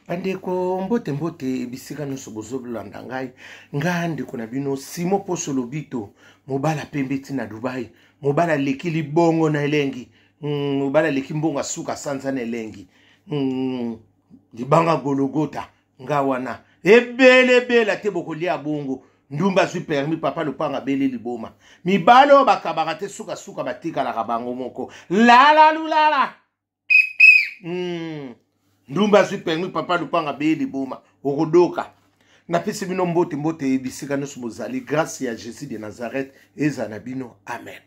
bandeko mbote mbote bisika nyonso bozolanda ngai ngai ndeko na bino simo poso lobito mobala pembe ti na dubai mobala aleki libongo na elengi mm, mobala aleki mbongo asuka sanza na elengi mm, libanga gologota nga wana ebele ebele ate bokolia bongo ndumba azwi permi papa lopanga bele liboma mibale oyo bakabaka te sukasuka batikalaka bango moko lalalulala mm. ndumba azwi permi papa lupanga beye liboma okodoka napesi bino mbote mbote ye bisika nyonso bozali grâce ya jésus de nazareth ezala na bino amen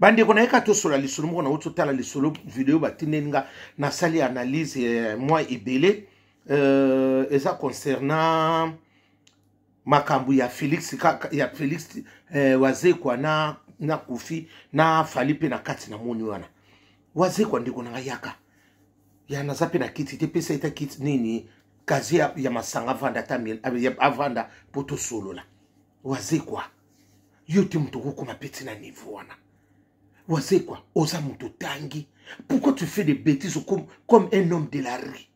bandeko nayeka tosola lisolo moko nauti otala lisolo video batindeli nga nasali analyse eh, mwa ebele euh, eza concernant makambo ya felix kaka ya felix eh, wazekwa na na kofi na fali mpe na kati na moni wana wazekwa ndeko na ngai yaka ya naza mpe na kiti te pesa eta kiti nini kazi ya, ya masanga avanda ata avanda mpo tosolola wazekwa yo te moto okokoma peti na niveau wana wazekwa oza moto otangi pourquoi tu fais des bêtises comme, comme un homme de la rue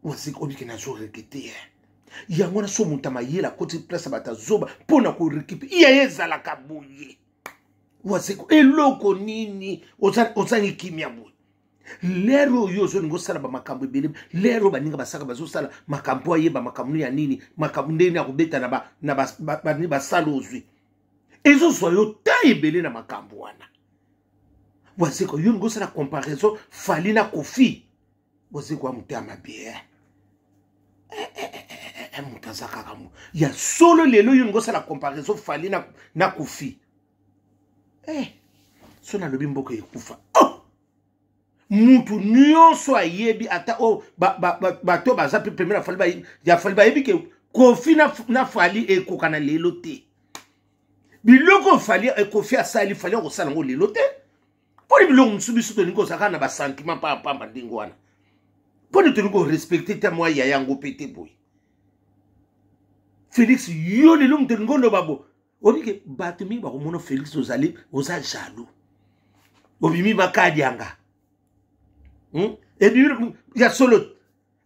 mwasika obike nazo rekite ye eh. yango wana so moto amayele akoti place ya bato azoba mpo na korekipe iya ye ezalaka boye wazeko eloko nini ozangi kimia boye lere oyo ozolinga osala bamakambo ebele lere oyo baninga basaka bazosala makambo ayeba makambo ya nini makambo ndenge ya kobeta na basala ozwi ezozwa yo ta ebele na makambo wana wazeko yo olingi osala comparaison fali na kofi bozi kwa moto ya mabe eh, eh, eh, moto aza kaka mo ya solo lelo yo ngosala comparaison fali na, na kufi eh, so nalobi mboka ekufa oh! mutu nyonso ayebi ata oyo oh, bato ba, ba, ba, ba, baza mpe pembe na fali ya fali bayebi ke kofi na, na fali ekokana lelo te biloko fali ekofi asali fali akosala yango lelo te mpo nini biloko mosusu biso tolingi kozala kaka na basentiment mpamba ndenge wana mpo nini tolingi korespecte te mwa ya yango mpe te boye félix yo lelo moto olingi oloba bo obike bato mingi bakomona félix ozali oza jaloux obimi makadianga hmm? ebimi ya solo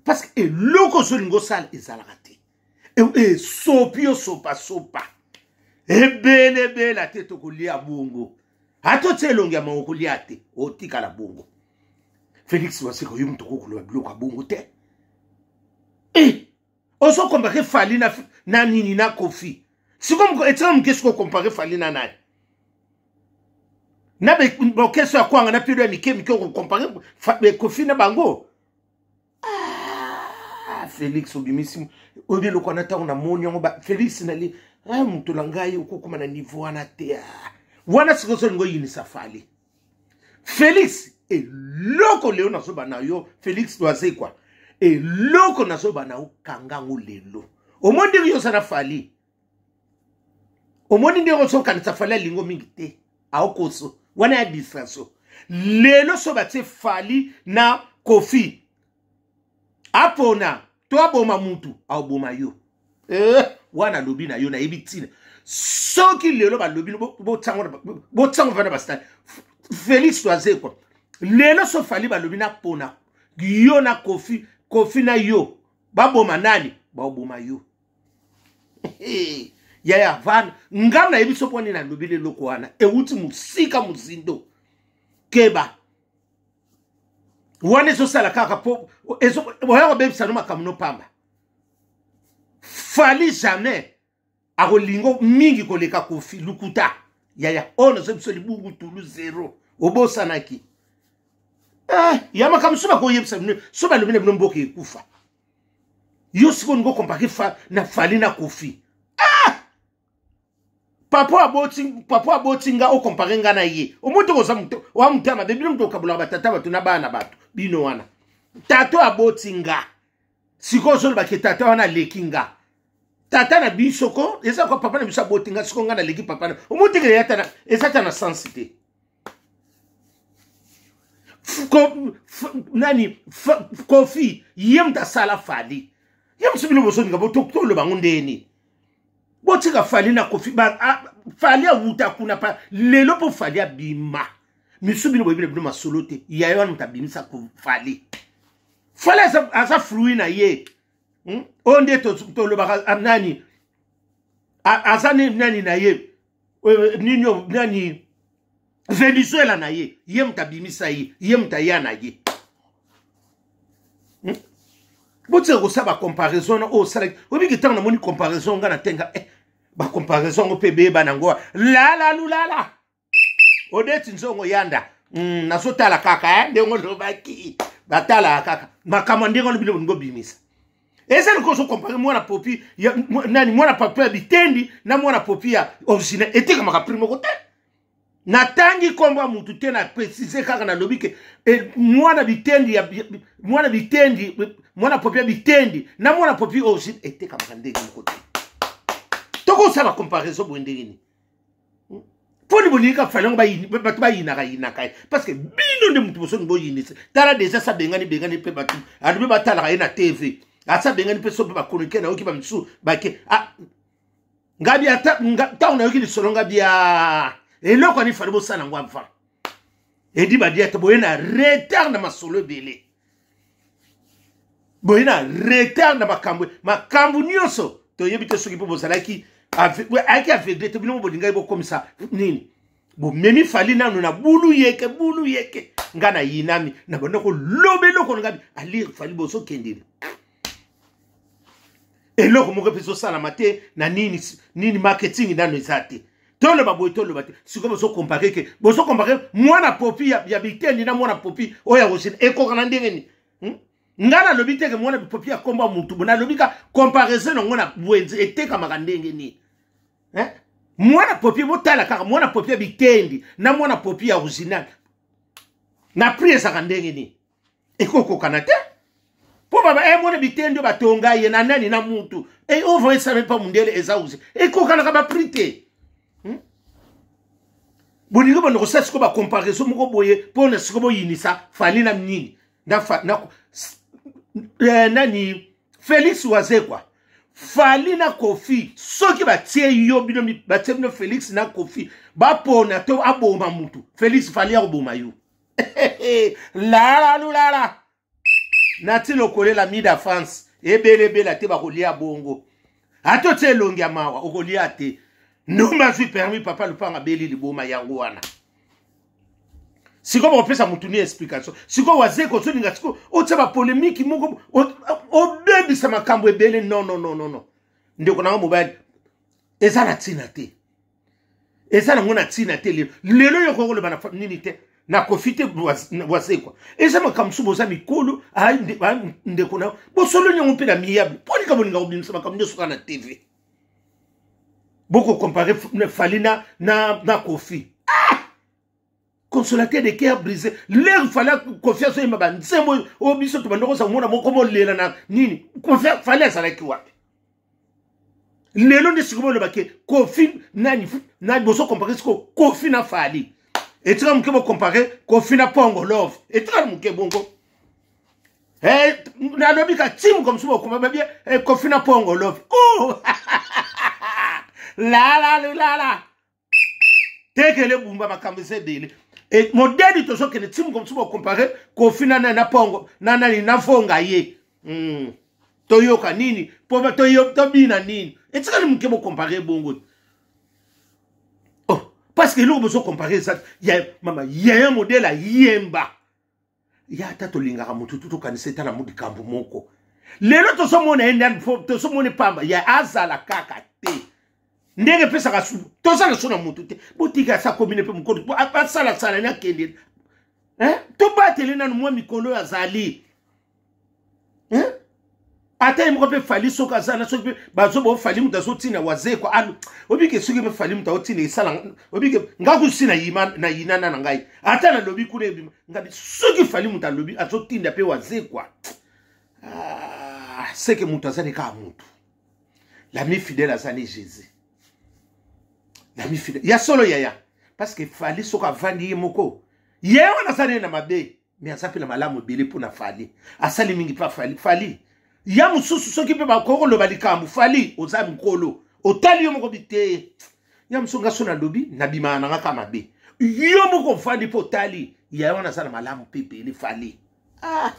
parce que eloko ozolinga osala ezalaka te esopi osopasopa ebele ebela te tokolia bongo ata otya elongi ya moko kolia te otikala bongo félix waseko yo moto okokoloba biloko ya bongo te e eh, ozokompake fali na, na nini na kofi siko etika moke siko okompake fali na nani na bokeso ya kwanga na pilo ya mike mike okokompake kofi na bango ah, felix obimisi oyebi eloko wana ntango namoni yango felix nali ah, moto na ngai okokoma na niveau wana te ah. wana sikoyo solingo oyinisa fali felix eloko lelo nazoba na yo felix doazekwa eloko nazoba na yo kanga yango lelo omoni ndenge yo oza na fali omoni ndenge osokanisa fali alingo mingi te aokoso wana ya distraction lelo so batie fali na kofi apona to aboma mutu aoboma yo eh, wana alobi na yo nayebi ntina soki lelo balobi botiango vana bastani félix toazekwa lelo so fali balobi napona yo na kofi kofi na yo baboma nani baoboma yo yaya vanda nga nayebi biso mpo nini nalobeli eloko wana euti mosika mozindo keba wana ezosala kaka mpo oya kobebisa no makambo no pamba fali jamais akolingo mingi koleka kofi lukuta yaya oyo nazo biso libungu tulu zero obosanaki eh, ya makambo so bakoyebisa bino so balobi na bino mboka ekufa yo sikoyo olingi okompake fa, na fali na kofi ah! papa aboti papa aboti nga okompake nga na ye omoi toko oza moto oa moto ya mabe bino moto okabolaka batata bato na bana na bato bino wana tata aboti nga sikoyo ozolobake tata wana aleki nga tata na biso ko eza kwa papa na biso aboti nga sikoyo nga naleki papa na omoi tekele yatana eza ta na sensi te nani kofi ye moto asala fali ye mosu bino bozolinga botoloba yango ndeni botika fali na kofi fali awuta kuna pa lelo mpo fali abima misu bino boyebi na bino masolo te yaye wana moto abimisa fali fali aza fruit na ye hmm? oyo nde tolobaka nani aza nani na ye euh, nini nani venezuela na ye ye moto abimisa ye ye moto aya na ye hmm? botika kosala bacomparaison na oyo osalaki oyebiki ntango namoni comparaison nga na tenga eh, bacomparaison yango mpe beyeba na yango lala lulala odeti nzongo yanda mm, nazotala kaka eh, ndenge olobaki batalaka kaka makambo ndenge wana bino bolingi obimisa eza lokola ozokompare mwana popi ya mwa- nani mwana pato ya bitendi na mwana popi ya original etekamaka prix moko te natangi nkombo ya motu te na precise kaka nalobi ke eh, mwana bitendi ya ya- mwana bitendi eh, mwana popi ya bitendi na mwana popi original etekamaka ndenge moko te tokosala comparaison boye ndenge nini poni bolingi kaka fali yango bato bayinaka yinaka ye parce que bino nde moto bosoni boyinisa tala deja sa bengani bengani mpe bato alobi batalaka ye na tv asa bengani mpe so mpe bakonike nayoki bamisusu bake ah, ngabi ata ntango nayoki lisolo ngabi ya ah, eloko ani fali bosala yango avant edi badia te boye na retard na masolo ebele boye na retard na makambo makambo nyonso toyebi te soki mpo bozalaki ayaki aveugle te bino bolingaki bokomisa nini bomemi fali nano na bulu yeke bulu yeke ngai nayinami na banda koloba eloko na ngai alire fali bozokendele eloko moko mpe ezosalama te na nini nini marketing nano eza te toloba boye toloba te sikoyo bozokompare ke bozokompare mwana popi ya, ya bitendi na mwana popi oyo ya rosine ekoka na ndenge nini hmm? ngai nalobi teke mwana popi ya kombo ya motu bo nalobi ka comparaison yango na bwenze etekamaka ndenge nini eh? mwana popi botala kaka mwana popi ya bitendi na mwana popi ya original na prix ezaka ndenge nini ekokokana te mpo baba eh, mona biteni nde batonga ye na nani na mutu e eh, ovo esame mpa mundele eza uze ekokanaka bapri te hmm? bolingi banda kosala sikoyo bacomparaison moko boye mpo na sikoyo boyinisa fali na nini na, fa, na eh, nani felix wazekwa fali na kofi soki batie yo bino batie bino felix na kofi bapona to aboma mutu felix fali akoboma yo lala lulala nati lokolela mida france ebelebela te bakolia bongo ata otya elongi ya mawa okolia te ndumba azwi permis papa lupanga abeli liboma yango wana sikoyo bakopesa motu ni explication sikoyo wazeko ozolinga sikoyo otya bapolemiki moko obebisa makambo ebele nonononono ndeko nanga mobali eza na ntina te eza nango na ntina te lelo lelo yo kokoloba na nini te na kofi te wasekwa eza makambo mosusu boza mikolo ndeko na bosololi yango mpe na miyable mpo likambo linga kobimisa makambo nyonso kaka na tv bokokompare fali na, na, na kofi consolateur de cœur brisé lere fale confiance oyemba banzembo oyo oh, biso tobanda kozala mona moko molela na nini fale azalaki wapi lelo nde sikoyo olobaki kofi nani nani bozo compare sikoyo kofi na fali etika moke bocompare kofi na pongo love etika moke bongo eh, nalobi ka ti moka mosusu bokoma babie eh, kofi na pongo love oh! lalalilala tekele bumba makambo eza ebele e, modeli tozokende ti mokomi ti bokompare kofi na nani na pongo na nani na vonga ye mm. toyoka nini po tobina nini etikali moke bokompare bongo oh, parce que eloko bozokompare eza ya mama yaya modele ayemba ya ata tolingaka motu tu tokanisa eta na likambo moko lelo tozomona ye ndani tozomona pamba ya azala kaka te ndenge epesaka su toza na so na motu te botika asa komine mpe mokolo asalasala ni akende tobatele nanu mwa mikolo oyo azali eh? ata ye moko mpe fali soki aza na soki mpe bazo bao fali moto azotina wazekwa alo obike soki mpe fali moto aotina esala obike nga kusi na yinana na ngai ata nalobi kuna ebima ngabi soki fali moto alobi azotinda mpe wazekwa ah, seke moto azali kaka motu lami fidèle azali jésus lami fidèle ya solo yaya parce que fali soki avandi ye moko ye wana azali ye na mabe mais aza mpe na malamu ebele mpo na fali asali mingi mpa fali fali ya mosusu soki mpe bakoki koloba likambo fali oza mokolo otali yo moko biteye ya mosusu nga so nalobi nabimaka nanga ka mabe yo moko ofandi mpo otali ya wana aza na malamu mpe ebele fali ah.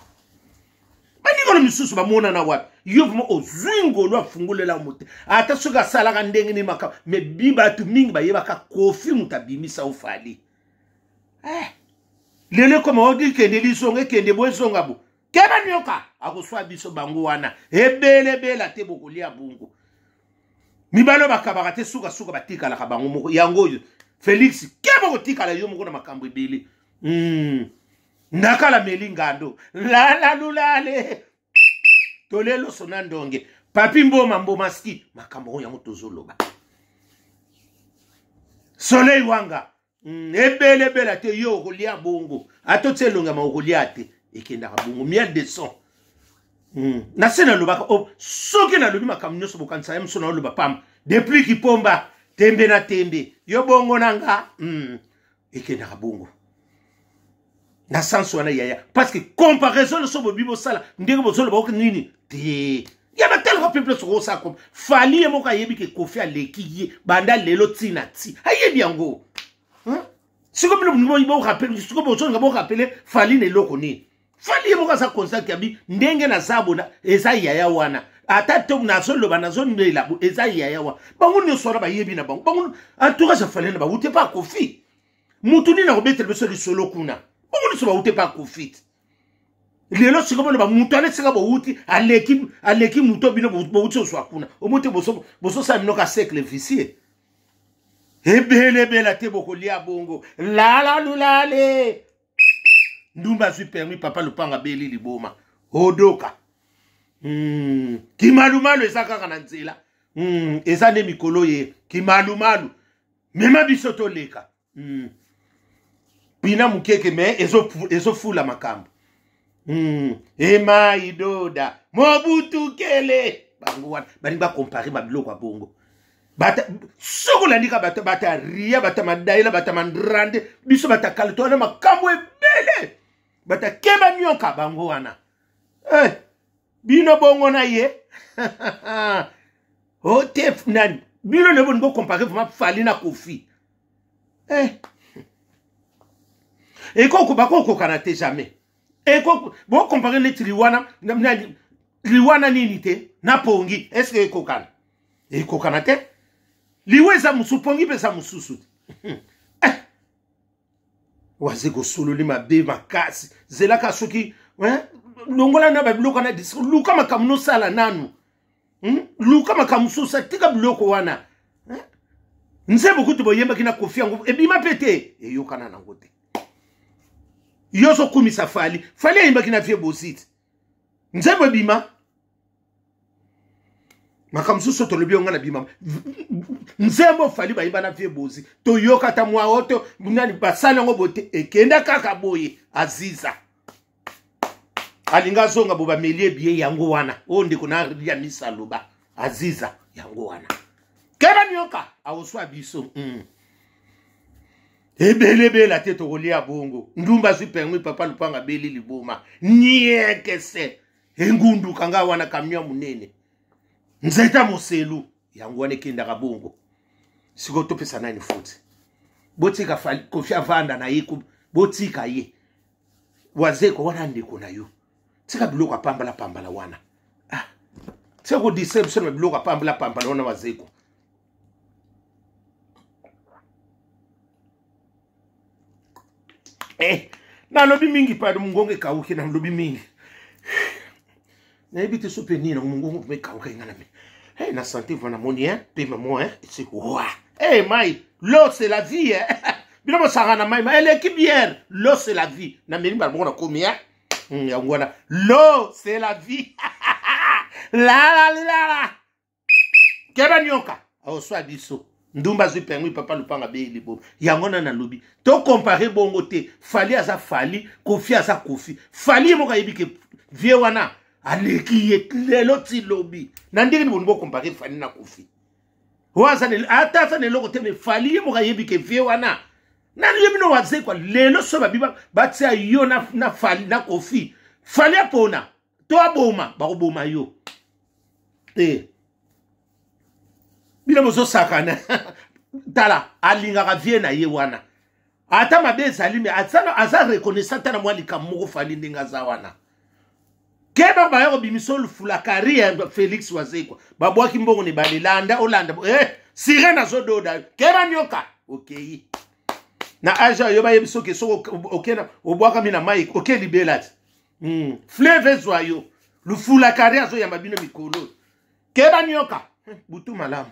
baningono misusu bamonana wapi yo vrima ozwi ngolu afungolela mote ata soki asalaka ndenge nini makambo me bi bato mingi bayebaka kofi moto abimisa ofali eh. lelo ekoma odi kende lisonga ekende bo ezonga bo keba nioka akoswa biso bango wana ebelebela te bokolia bongo mibali oyo bakabaka te sukasuka batikalaka bango moko yango oyo felix keba kotikala yo moko na makambo ebele mm. ndakala meli ngando lalalulale tole loso na ndonge papi mboma mboma ski makambo oyo yango tozoloba soleil wanga mm, ebele ebela te yo okolia bongo ata otya elongi yama okolia te ekendaka bongo miel de son mm. na se nalobaka oh, soki nalobi makambo nyonso bokanisa ya moso naoloba pamba depuis kipomba tembe na tembe yo bongo na nga mm. ekendaka bongo na sens wana yaya parce que comparaison nyonso bobi bosala ndenge bozoloba oke nini te ya batalaka mpe mpe soki osala koma fali ye moko ayebi ke kofi aleki ye banda lelo ti na ti ayebi yango sikoyo bino bolingi borappele sikoyo bozolinga borapele fali na eloko nini fali ye moko aza conscient ke abi ndenge naza bona eza yaya wana ata to nazoloba nazonela bo eza yaya wana bango nyonso wana bayebi na bango bango antuka ja fali na bawute mpe akofi motu nini akobetela biso lisolo kuna bango nyonso bawute mpe akofi te lelo sika bona bamutu wana esika bowuti aleki aleki moto bino bowuti ozwa kuna omo te bososala bino ka cercle vicie ebelebela te bokolia bongo lalalulale ndumba azwi permis papa lupango abeli liboma odoka mm. kimalumalu eza kaka na nzela mm. eza nde mikolo ye kimalumalu mema biso toleka mm. pina mokeke me ezofula ezo makambo mm. ema idoda mobutu kele bango wana balingi bakompare babiloko ya bongo bata soki olandika bata bata ria bata madaela bata mandrandi biso bata kalito wana makambo ebele bata keba nyoka bango wana hey, eh, bino bongo na ye otef oh, nani bino nde boni bokompare vraimen fali na kofi eh. eko bakokokana te jamais eko bokompare neti liwana liwana nini te na pongi eske ekokana ekokana te liwa eza mosusu pongi mpe eza mosusu te hmm. eh. waze kosololi mabe makasi zelaka soki eh, longola na babiloko na discour luka makambo nosala nanu hmm? luka makambo mosusu atika biloko wana hmm? nzembo kutu boyembaki na kofi yango ebima mpe te eyokana nango te yo ozokumisa fali fali ayembaki na vie bosite nzembo ebima makambo mosusu tolobi yo ngai na bima nzembo fali bayimba na vie bozi toyoka ata mwa oto nani basali yango bote ekenda kaka boye aziza alingi azonga bo bameli ebiye yango wana oyo ndeko na ya misa aloba aziza yango wana keba nioka akoswa biso mm. ebele ebela te tokolia bongo ndumba azwi pengwi papa lupanga beli liboma niekese engunduka ngai wana kamio ya monene nzeta moselu yango wana ekendaka bongo sikoyo topesa nani foti botika kofi avanda na ye botika ye wazeko wana ndeko na yo tika biloko apambala pambala wana ah. tika kodistre biso na biloko apambala pambala wana wazeko eh, nalobi mingi pado mongongo ekauki nalobi mingi nayebi te so mpe nini nango mongongo mpe ekauka enga na me hey, na sante vana moni hein, mpe mamo hein, ese wa hey, mai lo c'est la vie hein. bino bosanga na mai eleki biere lo c'est la vie na meli mbala moko nakomi hein. Hmm, yango wana lo c'est la vie lalalilala keba nyoka aoswa biso ndumba azwi pengwi papa lupanga beyi libobo yango na nalobi tokompare bongo te fali aza fali kofi aza kofi fali ye moko ayebi ke vie wana aleki ye lelo ti lobi na ndenge niboni bokompare fali na kofi ata aza na eloko te me fali ye moko ayebi ke vie wana nani yebi no wazekwa lelo so babi batia yo na, na, fali, na kofi fali apona to aboma bakoboma yo te bino bozosakana tala alingaka vie na ye wana ata mabe ezali me aza reconnaissant ata na mwa likambo moko fali ndenge aza wana keba baya kobimisa olufula kari ya félix wazekwa babwaki mbongo na ebale landa olanda eh, sirene azododa yo keba nyoka okei na age ayo bayebi soki soki okena obwakami na mai oke libela te mm. fleve ezwa yo lufula kari azoyamba bino mikolo keba nioka butu malamu